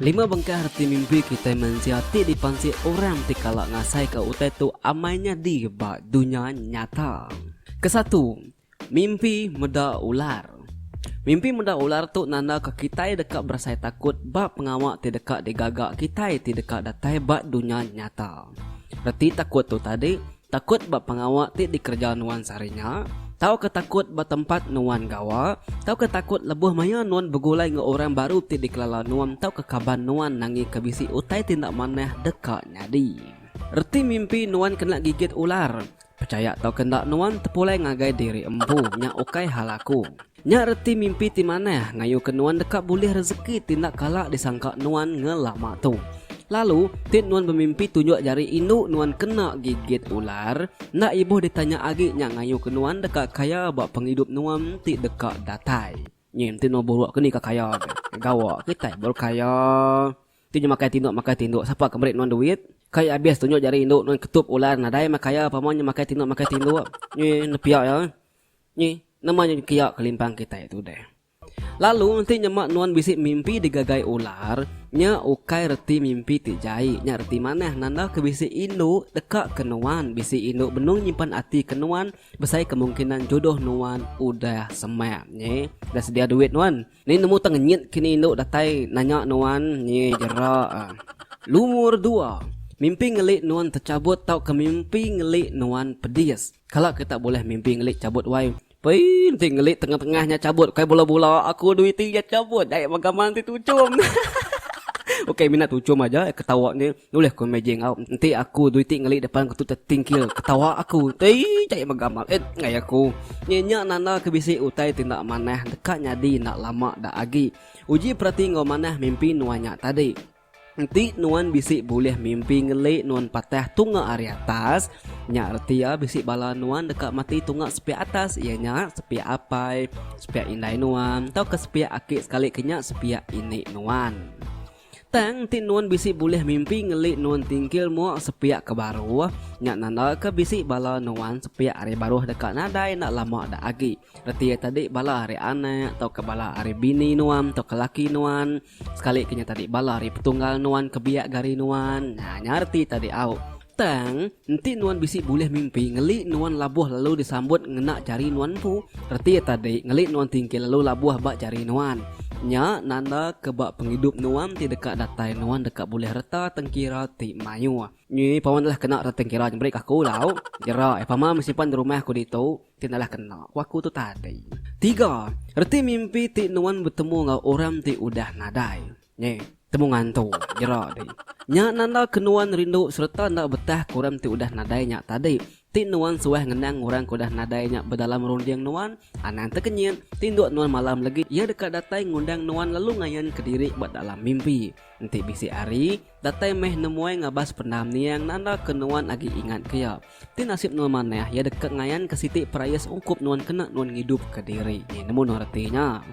Lima bengkah reti mimpi kitai mensia ti dipansik orang ti kala ngasaika utai tu amai nyadi ba dunya nyata. Kesatu, mimpi meda ular. Mimpi meda ular tu nandaka kitai deka berasai takut ba pengawa ti deka digaga kitai ti deka datai ba dunya nyata. Reti takut tu tadi Takut ba pengawa ti dikereja nuan sehari nya? Tauka takut ba tempat nuan gawa? Tauka takut lebuh maya nuan begulai enggau orang baru ti dikelala nuan tauka kaban nuan nangika bisi utai ti enda manah deka nyadi? Reti mimpi nuan kena gigit ular? Pechaya tauka enda nuan tepulai ngagai diri empu, nya ukai hal aku. Nya reti mimpi ti manah ngayuka nuan deka bulih rezeki ti enda kala disangka nuan ngelama tu. Lalu, ti nuan bemimpi tunjuk jari indu nuan kena gigit ular, enda ibuh ditanya agi nya ngayuka nuan deka kaya ba pengidup nuan ti deka datai. Nyi enti nuan buruk ke ni ke kaya deh. Gawa kitai baru kaya. Ti nya makai tinduk makai tinduk sapa ke meri nuan duit? Kai abis tunjuk jari indu nuan ketup ular nadai meh kaya pama nya makai tinduk makai tinduk. Nyi nepia iya. Nyi, nama nya kiya kelimpang kitai tu deh. Lalu enti nyema nuan bisi mimpi digagai ular, nya ukai reti mimpi ti jai, nya reti manah nanda ke bisi indu deka ke nuan. Bisi indu benung nyimpan ati ke nuan besai kemungkinan jodoh nuan udah semak. Nyi, udah sedia duit nuan. Ni nemu tang nyit kini indu datai nanya nuan ni jera lumur dua mimpi ngeli nuan techabut tauka mimpi ngeli nuan pedis kala ke tak boleh mimpi ngeli cabut wai pei enti ngeli tengah tengah nya cabut kai bula bula aku duit ti nya cabut dai mega manti tuchum hahaha ukai mina tuchum aja ketawa ni. Nulih ku Mei Jing, Au, enti aku duiti ngeli depan ke tu tetingkil ketawa aku. Tei, jai mega mah et ngai aku. Nyi nya nanda ke bisi utai ti enda manah deka nyadi enda lama da agi. Uji perati enggau manah mimpi nuan nya tadi. Enti nuan bisi bulih mimpi ngeli nuan patah tunga ari atas, nya reti iya bisi bala nuan deka mati tunga sepiak atas iya nya sepiak apai, sepiak indai nuan tauka sepiak aki sekali ke nya sepiak ini nuan. Tang ti nuan bisi bulih mimpi ngeli nuan tingkil mua sepiak ke baruh, nya nandaka bisi bala nuan sepiak ari baruh deka nadai enda lama da agi. Reti iya tadi bala ari anak tauka bala ari bini nuan tauka laki nuan, sekalika nya tadi bala ari petunggal nuan ke biak ke ari nuan. Nya reti tadi au. Tang, enti nuan bisi bulih mimpi, ngeli nuan labuh lalu disambut ngena jari nuan empu, reti iya tadi, ngeli nuan tingkil lalu labuh ba jari nuan. Nya nanda ke ba pengidup nuan ti deka datai nuan deka bulih reta tengkira ti mayuh. Nyi pama nalah kena reta tengkira nyemeri ke aku tau, jera ai pama menyimpan rumah aku ditu ti nalah kena, ku aku tu tadi. Tiga, reti mimpi ti nuan betemu enggau orang ti udah nadai. Nge, temu ngantung jera ti. Nya nanda ke nuan rindu sereta enda betah ke orang ti udah nadai nya tadi. Ti nuan suah ngenang orang ke udah nadai nya bedalam runding nuan? Anang tekenyit, tinduk nuan malam legi iya deka datai ngundang nuan lalu ngayan ke diri ba dalam mimpi. Enti bisi ari, datai meh nemuai ngabas pendam niang nanda ke nuan agi ingat ke iya. Ti nasib nuan manah iya deka ngayan ke siti perayas ungkup nuan kena nuan ngidup ke diri. Nge, nemu nuan reti nya?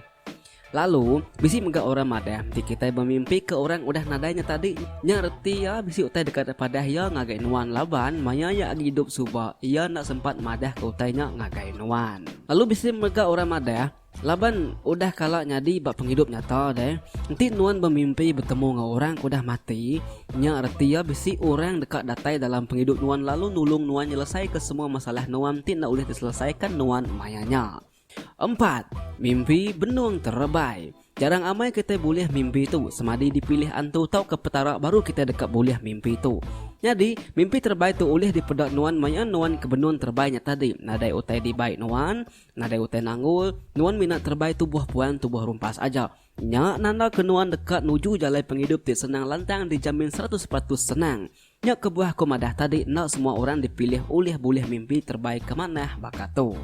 Lalu, bisi mega orang madah ti kitai bemimpika orang udah nadai nya tadi. Nya reti iya bisi utai deka terpadah iya ngagai nuan laban maya iya agi idup suba iya enda sempat madahka utai nya ngagai nuan. Lalu bisi mega orang madah, Laban udah kala nyadi ba pengidup nyata deh, enti nuan bemimpi betemu enggau orang ke udah mati, nya reti iya bisi orang deka datai dalam pengidup nuan lalu nulung nuan nyelesaika semua masalah nuan ti enda ulih diselesaika nuan maya nya. Empat, mimpi benung terebai. Jarang amai kitai bulih mimpi tu semadi dipilih antu tauka Petara baru kitai deka bulih mimpi tu. Nyadi, mimpi terebai tu ulih dipeda nuan maya nuan ke benung terebai nya tadi, nadai utai dibai nuan, nadai utai nanggul, nuan mina terebai tubuh puan tubuh rumpas aja. Nya nandaka nuan deka nuju jalai pengidup ti senang lantang dijamin seratus peratus senang. Nya kebuah aku madah tadi enda semua orang dipilih ulih bulih mimpi terebai ke manah baka tu.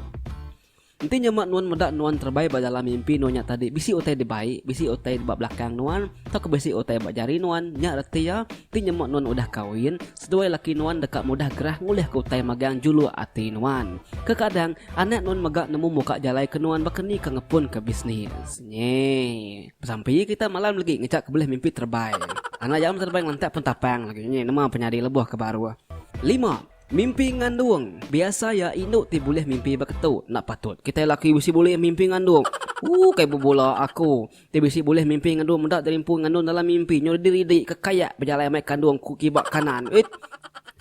Enti nyema nuan meda nuan terebai ba dalam mimpi nuan nya tadi bisi utai dibai, bisi utai ba belakang nuan tauka bisi utai ba jari nuan nya reti iya enti nyema nuan udah kawin seduai laki nuan deka mudah gerah ngulihka utai magang juluk ati nuan. Kekadang anak nuan mega nemu muka jalai ke nuan baka ni ke ngepunka bisnis. Nyeh. Besampi iya kita malam legi ngejak ke belih mimpi terebai. Anak iya meh terebai ngelantak pun tapang legi. Nyeh nema penyadi lebuh ke baruh. Lima, mimpi ngandung. Biasa iya indu ti bulih mimpi ba ketu. Enda patut kitai laki bisi bulih mimpi ngandung. Ooh kai bebula aku ti bisi bulih mimpi ngandung meda diri empu ngandung dalam mimpi nyau ridi-ridi ke kayak bejalai mai kandung ku kiba kanan. Uit.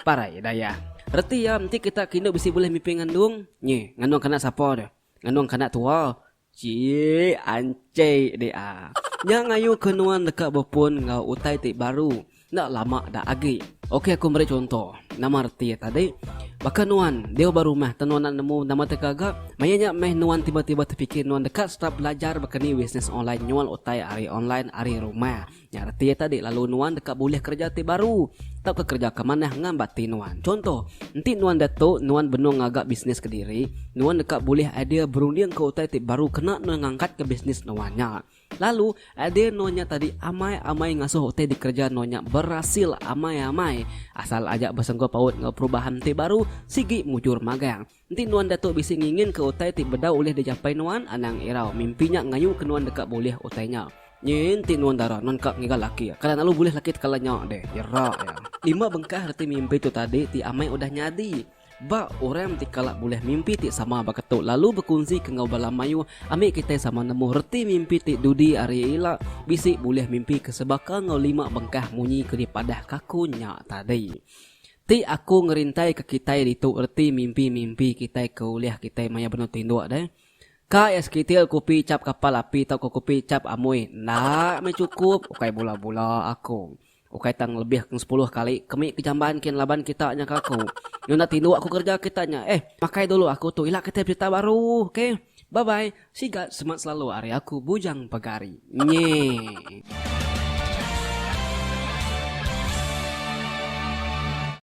Parai dayah. Reti iya enti kita ke indu bisi bulih mimpi ngandung. Nyeh. Ngandung kanak sapa deh. Ngandung kanak tua. Chik, anchik deh a. Nya ngayu ke nuan deka bepun enggau utai ti baru enda lama da agi. Okey aku meri chunto. Nama reti iya tadi? Baka nuan deu ba rumah tau nuan enda nemu nama ti gaga, maya nya meh nuan tiba-tiba tepikir nuan deka start belajar baka ni bisnes online nyual utai ari online ari rumah. Nya reti iya tadi lalu nuan deka bulih kereja ti baru tauka kereja ke manah ngambat ti nuan. Chunto, enti nuan diatu nuan benung ngaga bisnis kediri, nuan deka bulih idea berundingka utai ti baru kena nuan ngangkatka bisnis nuan nya. Lalu, idea nuan nya tadi amai-amai ngasuh utai dikereja nuan nya berasil amai-amai asal aja besenggul paut enggau perubahan ti baru sigi mujur magang. Enti nuan datu bisi nginginka utai ti bedau ulih dijapai nuan, anang irau mimpi nya ngayuka nuan deka bulih utai nya. Nyi enti nuan dara nuan ka ngiga laki, kada lalu bulih laki tekala nya deh, jera iya. Lima bengkah reti mimpi tu tadi ti amai udah nyadi. Ba, orang ti kala bulih mimpi ti sama baka tu lalu bekunsika enggau bala mayuh ami kitai sama nemu reti mimpi ti dudi ari ila bisi bulih mimpika sebaka enggau lima bengkah munyi ke dipadahka aku nya tadi. Ti aku ngerintaika kitai ditu reti mimpi-mimpi kitai ke ulih kitai maya benung tinduk deh. Ka iya sekitil kupi chap kapal api tauka kupi chap amui enda meh chukup ukai bula-bula aku. Ukai tang ngelebih keng sepuluh kali kemi ke jamban kin laban kita nya ka aku. Nyau enda tinduk aku kerja kita nya. Eh, makai dulu aku tu ila kitai berita baru. Okay. Bye-bye. Sigat semak selalu ari aku bujang pegari. Nyeh.